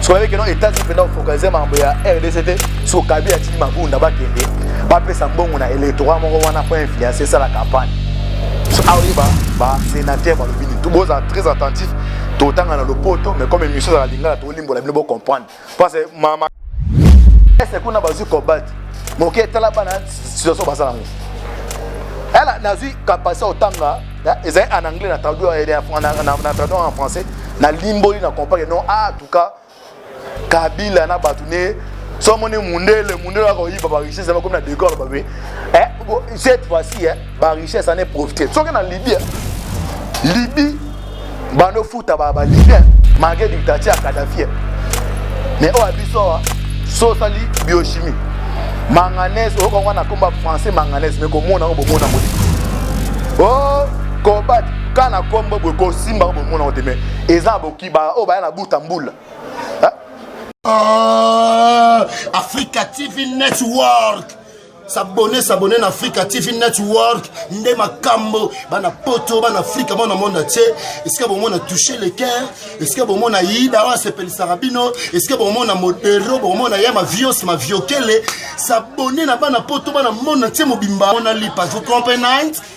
soyebeke no etats-unis mpenza ofocalise makambo ya rdc te so kabila atiki mabunda bakende bapesa mbongo na électorat moko wana mpo influence esala campagne so aoye basénateur balobi nini to bozala très attentif totanga na lopoto mais comme émission ezala lingala tolimbola bino bocomprendre parce mama ese kuna bazwi kobate moke etala bana situation baza nango ela nazwi kapasite otanga ezali en anglais na traduire na traduire en français na limboli na comprendre non ah en tout cas kabila na bato ne so omoni mundele mundele akoyiba barichesse bakomi na decor babe eh, cette fois-ci eh, barichesse ane profite soki na libye libye banda ofuta ba libyen malgré dictature ya kadafie mais oyo ya biso awa so osali biochimie manganese oyoka yango na komba français manganese mais komona yango bomona yango te o kobat ka na kombo boye kosimba yango bomona yango te mais eza bokiba oyo baya na buta mbula ah, africa tv network sabone sabone na africa tv network nde makambo bana poto bana afrika bana monde atie esika bomona touche le cœur esika bomona yida oyo asepelisaka bino esika bomona modero bomona ya mavios maviokele sabone na bana poto bana monde atie mobimba mona lipa vous comprenez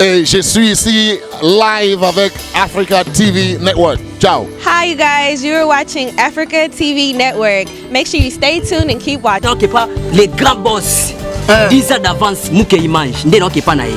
Et je suis ici live avec Africa TV Network. Ciao. Hi, you guys. You're watching Africa TV Network. Make sure you stay tuned and keep watching. Non, pas les grands boss. 10 eh. ans d'avance, Mouké Image. N'est non, pas naïf.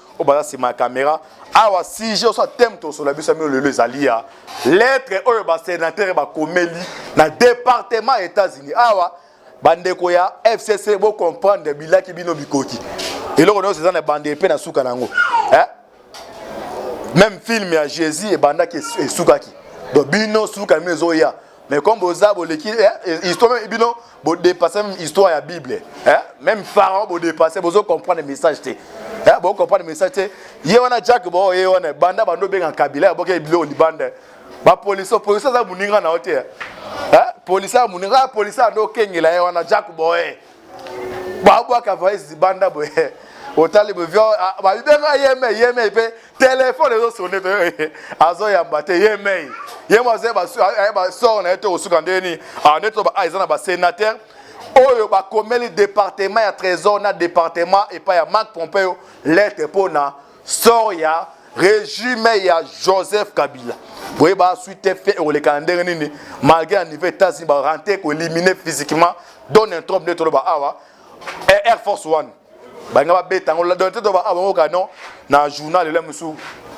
oyo baza nsima ya kamera awa sujet oso thème tosolola biso mio lelo ezali ya lettre oyo basenatere bakomeli na département ya états-unis awa bandeko ya fcc bocomprendre bilaki bino bikoki eloko nyonso eza na bande epe na suka na yango eh? meme filme ya jésus ebandaki esukaki donc bino suka bino ezoya mais comme boza boleki eh, histoire eh, bino bodepase même histoire ya bible eh? même pharaon bodepase bozo comprendre message te eh? bo comprendre message te ye wana jack bo ye wana banda bando benga kabila boke bilo libanda ba police police za muninga na hotel eh? police ya muninga police ando kengela ye wana jack bo eh? babwaka valise libanda boye otali boye ah, babibeka yemei yemei mpe telefone ezosone azoyamba te yemei ye mo aza basor na ye to kosuka ndenge nini ah, nde to ah, eza na basenateur oyo bakomeli departement ya trésor na departement epai ya marc pompeo lete mpo na sort ya regime ya joseph kabila boyeba suite fe ekoleka na ndenge nini malgré na niveau états-unis barente ekoélimine physiquement donne trop nde toloba awa air force one balinga babeta yango donne te toloba awa bango kano na journal ela mosusu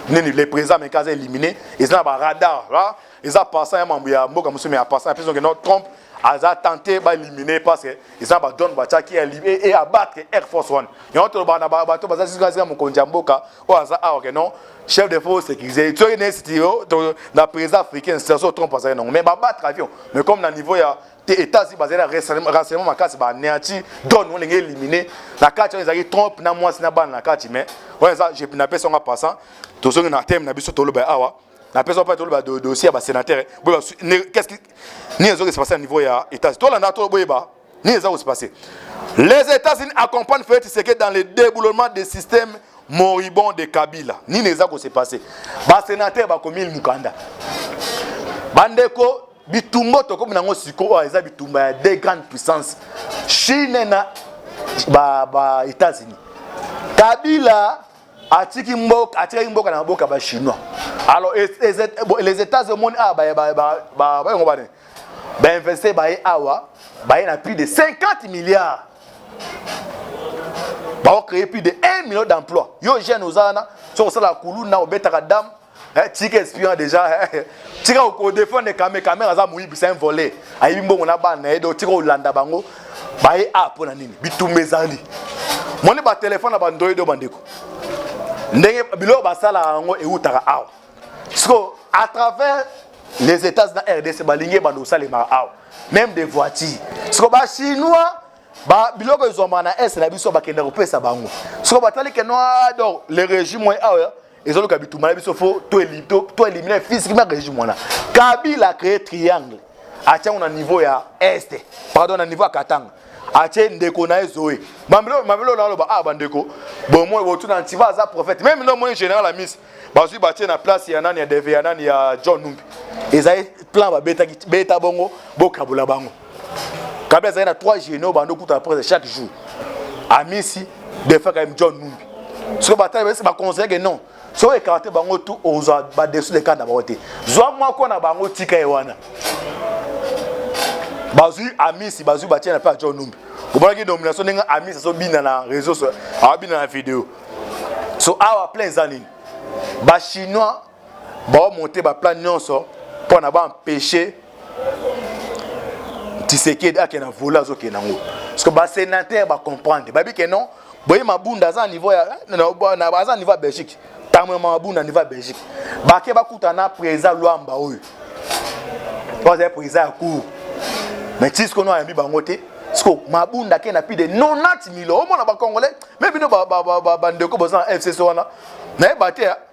nini le président ameka aza élimine eza na baradar eza pasa ya mambo ya mboka mosusu mais ya pasa apesi donc trump aza tente baelimine parce que eza badone batiaki e abattre air force one yango tolobaka na bato baza sika mokonzi ya mboka oyo aza awa ke non chef de force sécurisé soki na esiti yo na président africain serso trump azali nango mais babattre avion mais comme na niveau ya te états-unis bazali na renseignement makasi baneati done oyo ndenge élimine na kati oyo ezalaki trump na mwasi na bana na kati mais oyo eza napesi yango passant tozongi na teme na biso toloba awa na pesa pa toloba do dossier ya ba sénateur boye qu'est-ce qui ni ezo que se passer au niveau ya états to landa to boye ba ni ezo se passer les États-Unis accompagnent Félix Tshisekedi dans le déboulement des systèmes moribond de Kabila nini eza kose passe basenatere bakomi mokanda bandeko bitumba tokomi nango sikoyo oyo eza bitumba ya deux grandes puissances chine na ba, ba états-unis kabila atiki mboka atikaki mboka na maboko ya bachinois alors les états omoni awa bayango bane bainvestir baye awa baye na plus de 50 milliards baocreye plus de 1 million d'emploi yo jeune oza wana soki osalaka kuluna obetaka dame Eh, tika espion deja eh, tika kodefendre kame kamera aza moyibi c'est un volet ayibi mbongo na bana na ye donc tika kolanda bango baye a mpo na nini bitumba ezali moni batelefone na bandoyi do bandeko ndenge biloko basalaka yango ewutaka awa sikoyo à travers les états na rdc balingi ebanda kosalemaka awa même des voitures sikoyo bachinois ba biloko ezwamaka na est na biso bakenda kopesa bango sikoyo batali ke noa donc le régime oyo awa ezoluka bitumba na biso fo to elimine physiquement régime wana kabila acree triangle atiango na niveau ya este pardon na niveau ya katanga atie ndeko na ye zoe mabelo mabelo na loba ah bandeko bomoi botuna ntiva aza prophète meme no moni général ya miss bazwi batie na place ya nani ya deve ya nani ya john numbi ezali plan babetaki beta bongo bokabola bango kabila azali na 3 généraux bando kuta après chaque jour amisi defa kayim john numbi soki batali basi baconseille ke non soki ekarte bango tu ozwa badesu de kanda bango te zwa moko na bango tika ye wana bazwi amisi bazwi batie na mpe ya john numbi omonaki nomination ndenge amisi azobina na réseau so abina na video so awa plein eza nini bachinois baomonte baplan nyonso mpo na baempeshe tisekedi ake na vole azokende yango parceke basenatere bacomprendre bayebi ke non boye mabunda aza niveau ya aza niveau ya belgique ntango ya mabunda niveau ya belgique bake bakutana presa lwamba oyo oyo azali presa ya cour mais ti sikono ayambi bango te siko mabunda ake na plus de 90 milo omona bacongolais me bino bandeko boza na fcc wana nayeba te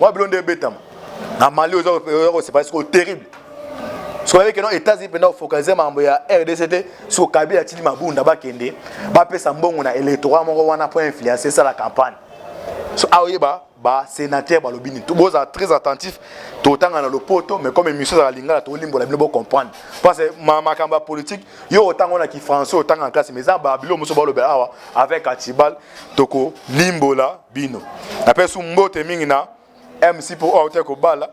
Moi bilo nde ebetama. Na Mali oza ko separe siko terrible. soki ayebeke no états-unis mpenza ofocalise makambo ya rdc te soki kabila atindi mabunda bakende bapesa mbongo na électorat moko wana mpo influence esala campagne so aoyeba basénateur balobi nini bozala très attentif totanga na lopoto mais comme émission ezala lingala tolimbola bino bocomprendre parce makambo ya politique yo otanga wana kifrançais otanga na classe mais eza babilo mosusu balobela awa avec atibal tokolimbola bino napesi mbote mingi na mc mpo oyo auti kobala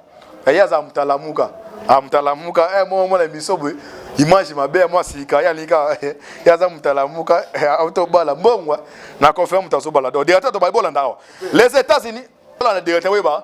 ye aza mtalamuka amtalamuka ah, eh, moko mona biso boye image mabe ya mwa sika ye alingi kaka eh, ye aza mtalamuka eh, auti obala mbongwa na confirme moto azobala do directeur tobali bolanda awa les états unis olanda directeur oyeba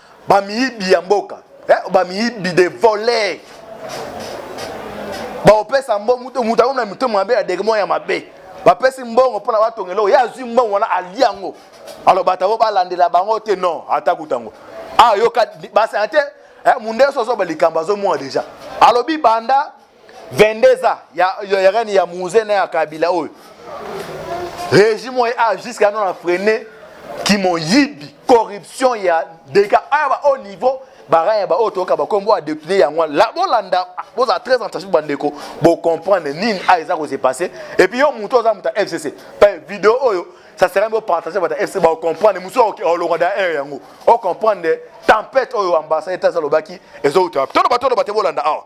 Ba miyibi ya mboka. Eh, ba miyibi de voler. Ba opesa mbo mutu mutu aona mutu mabe ya degmo ya mabe. Ba pesi mbongo pona ba tongelo. Ya zui mbongo wana aliango. Alors batabo ba landela bango te non, ata kutango. Ah, yoka ba santé eh mundeso zo ba likambo zo mwa deja. Alobi banda 22 ans ya, ya, ya règne ya Mouze na ya Kabila oyo régime oyo a jusqu'à non freine kimoyibi corruption ya deka aya ba haut niveau bara ya baoyo toyoka bakombo ya depute yango wana bolanda bozala très attention bandeko bocomprendre nini a eza kose passe epuis yo moto oza moto ya fcc pe video oyo ça serait mieux partager votre FC ba comprendre musu olonga da air yango o comprendre tempête oyo ambassade etats alobaki ezo uta tolo batolo bate bolanda awa ah.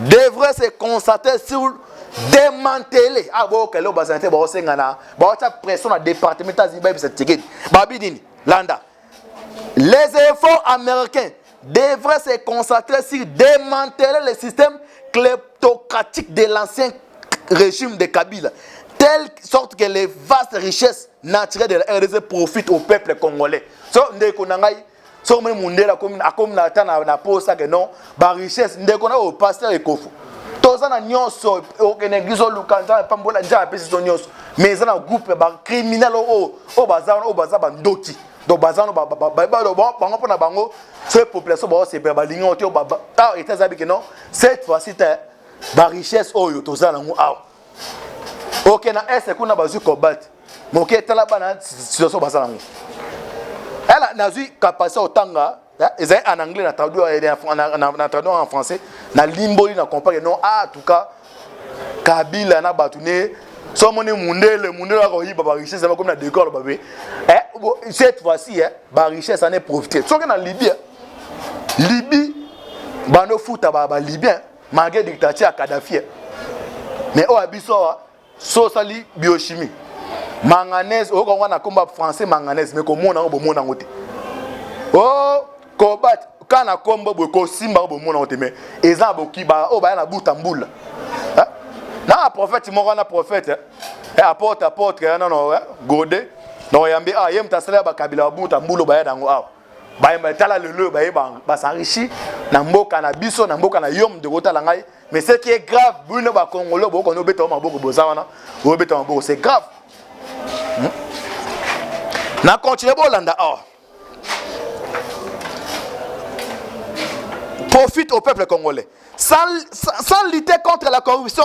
devrait se concentrer sur démanteler ah bon quel est basante ba osenga na ba wacha pression na département ta ziba bisa ticket ba bi nini landa les efforts américains devraient se concentrer sur démanteler le système kleptocratique de l'ancien régime de Kabila telle sorte que les vastes richesses naturelles de la RDC profitent au peuple congolais so ndeko na ngai soki omoni mundele akomi na ata na posa ke non barichesse ndeko na oyo paster ekofo toza na nyonso okende eglise oluka nzambe apambola nzambe apesi biso nyonso mais eza na groupe ya bacriminel oyo oyo baza wana oyo baza bandoki donc baza wana bango mpo na bango soki population baosepela balingi yango te awa ah, eta ezabike non cette fois-ci te barichesse oyo toza nango awa oke na este kuna bazwi cobalt moke tala bana situation baza nango ela nazwi capacité otanga ezali en anglais na traduire na traduire en français na limboli na comprendre non ah, en tout cas kabila na bato ne so omoni mundele mundele akoyiba barichesse yango komi na décor babe eh, cette fois-ci eh, barichesse ane profite soki na libye libye bando futa balibyen ba malgré dictature ya kadafi eh. mais oyo ya biso awa so osali biochimie manganese oyoka yango na komba français manganese mais komona yango bomona yango te o oh, kobat ka na kombo boye kosimba yango bomona yango te mais eza na bokiba oyo baya na buta mbula eh? na prophète moko wana prophète eh? eh, aporte aporte nono gode na oyambi awa ah, ye moto asala ya bakabila babuta mbula oyo baya na yango awa ah. bayemba tala lelo oyo baye basenrichi na mboka na biso na mboka na yo mdeko otala ngai mais ce qui est grave bino bakongolo bokoni obeta maboko boza wana obeta maboko c'est grave hmm? na continue bolanda awa profite au peuple congolais sans, sans, sans lutter contre la corruption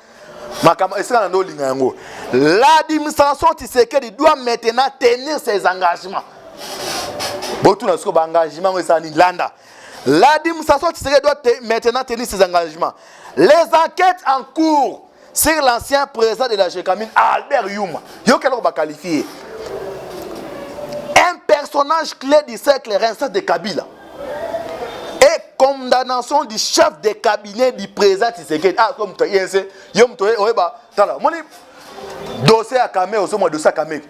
makambo esika na nde olinga yango l'administration tisekedi doit maintenant tenir ses engagements botuna sikoyo baengagement yango ezala nini landa l'administration tisekedi doit te, maintenant tenir ses engagements les enquêtes en cours sur l'ancien président de la gécamine albert yuma yoki eloko baqualifie un personnage clé du cercle rincent de kabila et condamnation du chef de cabinet du président Tshisekedi ah comme tu es yo mtu oyeba tala moni dossier ya Kame ozomwa dossier ya Kame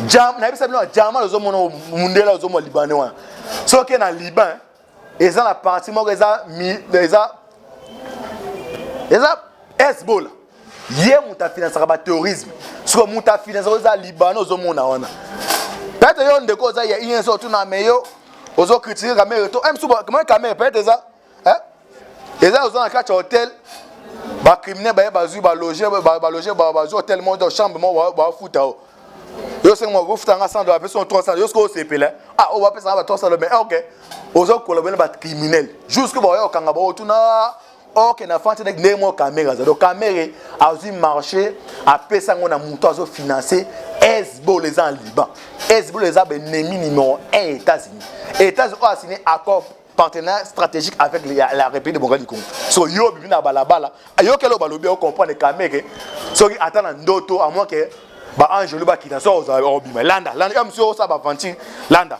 jam nayebisa bino jama ozomona mundela ozomwa libanais wana soki na liban eza na parti moko eza eza eza hezbola ye moto afinansaka baterrorisme siko moto afinansaka oza libana ozomona wana peut-être yo ndeko oza ya ins otuna me yo ozo critique kamere to eh, msukamwe kamere peut-être eza eh? eza oza na kati ya hotel bacriminel baye bazwi baloge baloge bazwi hotel moko chambre moko bafuta o yo sengi moko kofuta nga 100 dola apesi 300 yo sikoyo osepela ah oyo bapesaka ba 300 dola mais ok ozo kolobela bacriminel jusque baoya kokanga baotuna or que na france ndenge moko kamere aza donc kamere azwi marché apesa yango na moto azofinance hezbol eza na liban hezbol eza baennemi numéro 1 ya états-unis états-unis oyo asine accord partenaire stratégique avec la, la république démocratique du congo so yo obimi na balabala ayokeli oyo balobi okomprendre kamere soki ata na ndoto amwa ke baangelo bakita so obima landa landa yo mosi osala baventure landa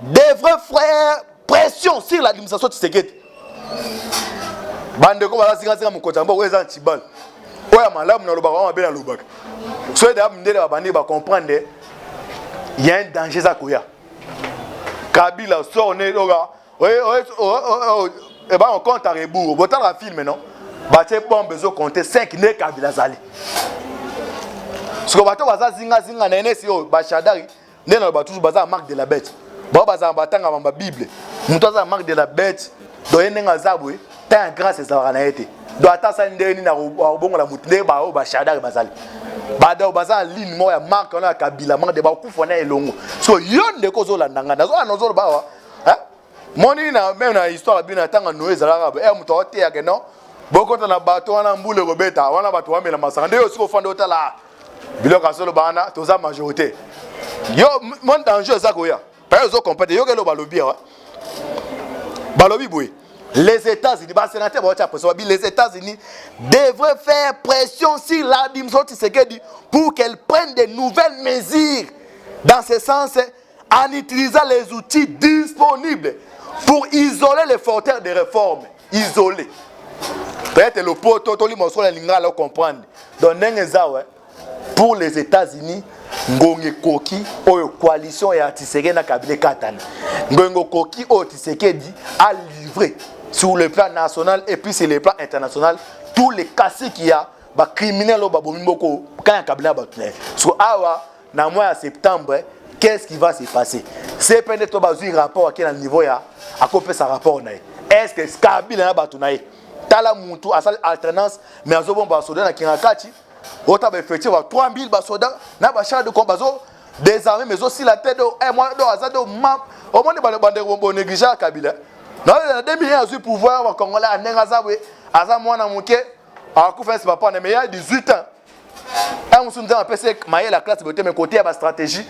des vrais frères pression sur l'administration Tshisekedi bandeko baza zingazinga mokonzi yango oyo eza na tibale oyo ya malamu nalobaka oyo mabe nalobaka soki deya mindele babandi bacomprendre ya un danger eza koya kabila sor ne oka eba on compte à rebours botalaka film non batie bombe ezokonte 5 nde kabila azali siko bato baza zingazinga na enesi oyo bashadari nde naloba toujours baza na marque de la bête bao bazala batangama ba bible moto aza na marque de la bête donc ye ndenge aza boye temps ya grâce ezalaka na ye te donc ata asali ndenge nini akobongola moto ndenge baoyo bashadare bazali badao baza na ligne moko ya marke wana ya kabila marke de bakufa na elongo so yo ndeko ozolanda ngai nazolanda ozoloba awa moni na meme na histoire ya bino ya ntango noye ezalaka e eh, moto aoteyake non bokota na bato wana mbula ekobeta wana bato bamela masanga nde yo osika ofanda otala biloko azoloba wana toza majorité yo mon danger eza koya paya ozo comprendre yoka eloba lobi awa balobi boye les États-Unis, bah, sénateur, bah, les États-Unis devraient faire pression sur l'administration Tshisekedi pour qu'elle prenne de nouvelles mesures dans ce sens en utilisant les outils disponibles pour isoler les fauteurs de réforme. Isoler. Peut-être le poteau, tout le monde soit lingala le comprendre. Donc, n'engezawe, pour les États-Unis, ngonge koki oyo coalition ya Tshisekedi na Kabila katana. Ngongo koki oyo Tshisekedi a livré sur le plan national et puis sur le plan international tous les caciques ya ba criminels oyo babomi boko kanya Kabila bato na ye. So awa na mois ya septembre qu'est ce qui va se passer cpn to bazwi rapport ake na niveau ya akopesa rapport na ye est ce que kabila na bato na ye tala mutu asali alternance mais azobomba basoda na kingakati ota baeffectif ba 3000 basoda na bachar de com bazo desarme mais ezosila te do eh, mwana do aza do ma omoni bandeko bonégligea kabila na 2001 azwi pouvoir bakongolais ndenge aza boye aza mwana moke akufa esi bapana mais ya 18 ans ntango mosusu nzambe apesi mayele ya classe bote me kote ya bastratégie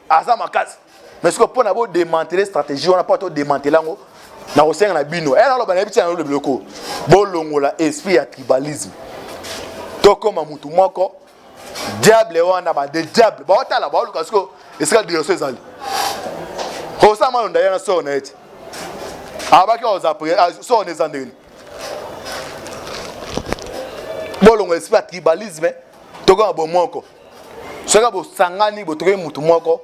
aza makasi mais sikoyo mpo na bodemantele stratégie wana mpo todemantele yango nakosenga na bino e naloba nayebi tia nalo biloko bolongola esprit ya tribalisme tokoma motu moko diable wana bade diable baotala baoluka sikoyo esika direction ezali osama londa ye na sor na ye te abaki ozapre sor na eza ndenge bolongola esprit ya tribalisme tokoma bomoko soki bosangani botokoki motu moko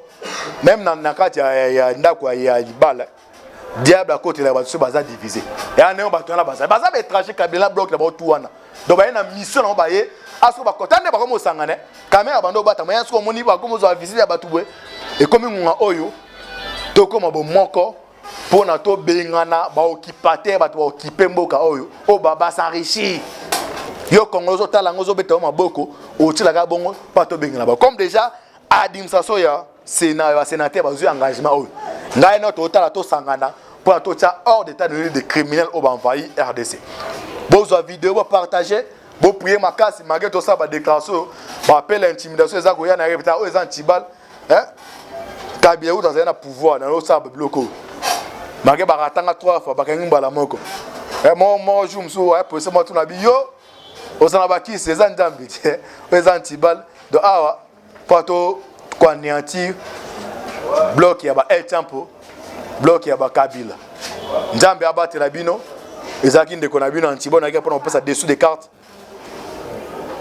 meme na, na kati ya, ya, ya ndako ya, ya libala diable akotela bato so baza divise ya ndenge bato wana bazali baza baétranger kabila bloc na bango tu wana donc baye na mission nango baye asoki bakota nde bakomi osangana kamera abanda obatama ya soki omoni bakomi ozwa visite ya bato boye ekomi ngonga oyo tokoma bomoko mpo na tobengana baokipatere bato baokipe mboka oyo oyo babasarishi yo kongo ozotala yango ozobeta yo maboko otyelaka bongo mpo tobengana ba comme déjà administration ya sena ya basenatere bazwi engagement oyo ngai no totala tosangana mpo na totya hors d'état de de criminel oyo baenvahi rdc bozwa video bopartage boprie makasi malgre tosala badéclaration oyo bapela intimidation eza koya na ye mpenza oyo eza antibale eh? kabila kutu azali na pouvoir na osala babiloko oyo bake bakatanga trois fois bakangi mbala moko eh, moko moko jour mosusu aya polise mwa tuna bi yo oza na bakisi eza nzambe te oyo eza ntibale do awa mpo to koaneantir blok ya ba el tempo blok ya bakabila nzambe abatela bino ezalaki ndeko na bino ya ntibonaki mpona kopesa dessous de carte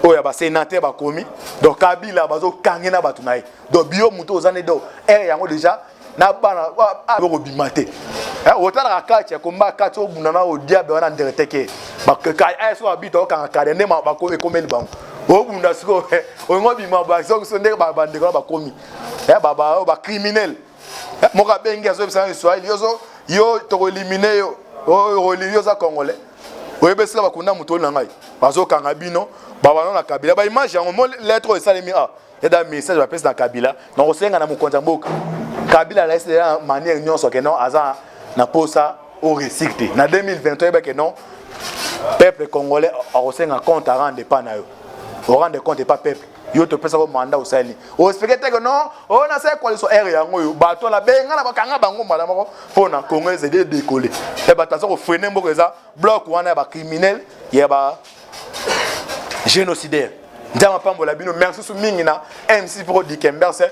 oyo ya basenateur bakomi donc kabila bazokange na bato na ye donc bio moto oza nde donc ere yango déjà na bana okobima te otalaka kati ya komba kati obunda na odiabe wana ndere teke ayeso babita okanga kade nde ekomeli bango obunda sikoyo olingo bima bazokiso nde bandeko na bakomi bacriminele Eh, moko abengi azoyebisa na kiswahili yozo yo tokoelimine yo okolili oza congolais oyebi esika bakunda moto na ngai bazokanga bino babano na kabila baimage yango mo lettre oyo esalemi a ah, eda message bapesi na kabila na kosenga na mokonzi ya mboka kabila alaisi deja manière nyonso ke non aza na posa o resir te na 2020 toyeba ke non peuple congolais akosenga compte arende epa na yo orende compte epa peuple yo topesaka o mandat osali oexplike te ke non oyo oh, nasali coalition r yango oyo bato ala benga na bakanga bango mbala moko mpo na congo ezali edekole ya bato aza kofrene mboka eza bloc wana ya bacriminel ya ba génocidaire nzambe apambola bino merci susu mingi na mc pro dikemberse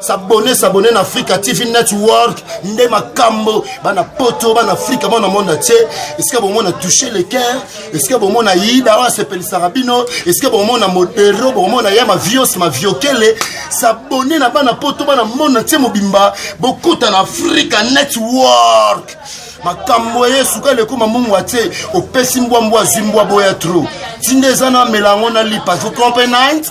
sabone sabone na afrika tv network nde makambo bana poto bana afrika mwana monde atie esika bomona touche le cœur esika bomona yida oyo asepelisaka bino esika bomona modero bomona ya mavios maviokele sabone na bana poto bana monde atie mobimba bokota na afrika network makambo eye suka eleko mamungu atie opesi mbwa mbwa azwi mbwa boya tro ntinda eza na amela yango na lipa vous comprenez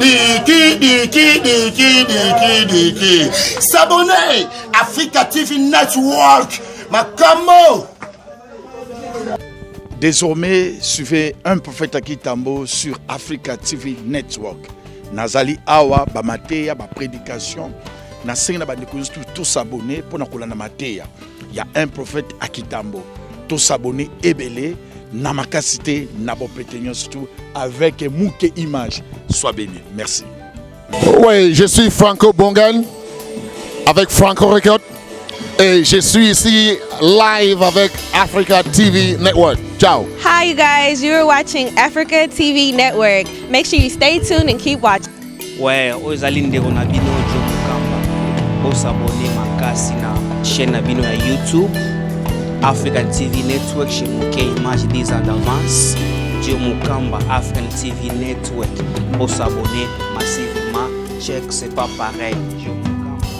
diki diki diki diki diki s'abonner africa tv network makambo désormais suivez un prophète à kitambo sur africa tv network nazali awa bamateya baprédication nasengi na bandeko nyonso tout s'abonner mpo na kolanda mateya ya un prophète à Kitambo to s'abonner ebele na makasi te na bopete nyonso tu avec muke image soit béni merci oui je suis franco bongan avec franco record et je suis ici live avec africa tv network ciao hi you guys you're watching africa tv network make sure you stay tuned and keep watching Ouais, oyo ezali ndeko na bino Joe Mukamba. Bosabone makasi na chaîne na bino ya YouTube African TV Network chez Mokei Image des Andavance Joe Mukamba African TV Network. Bosabone massivement. Check, c'est pas pareil. Joe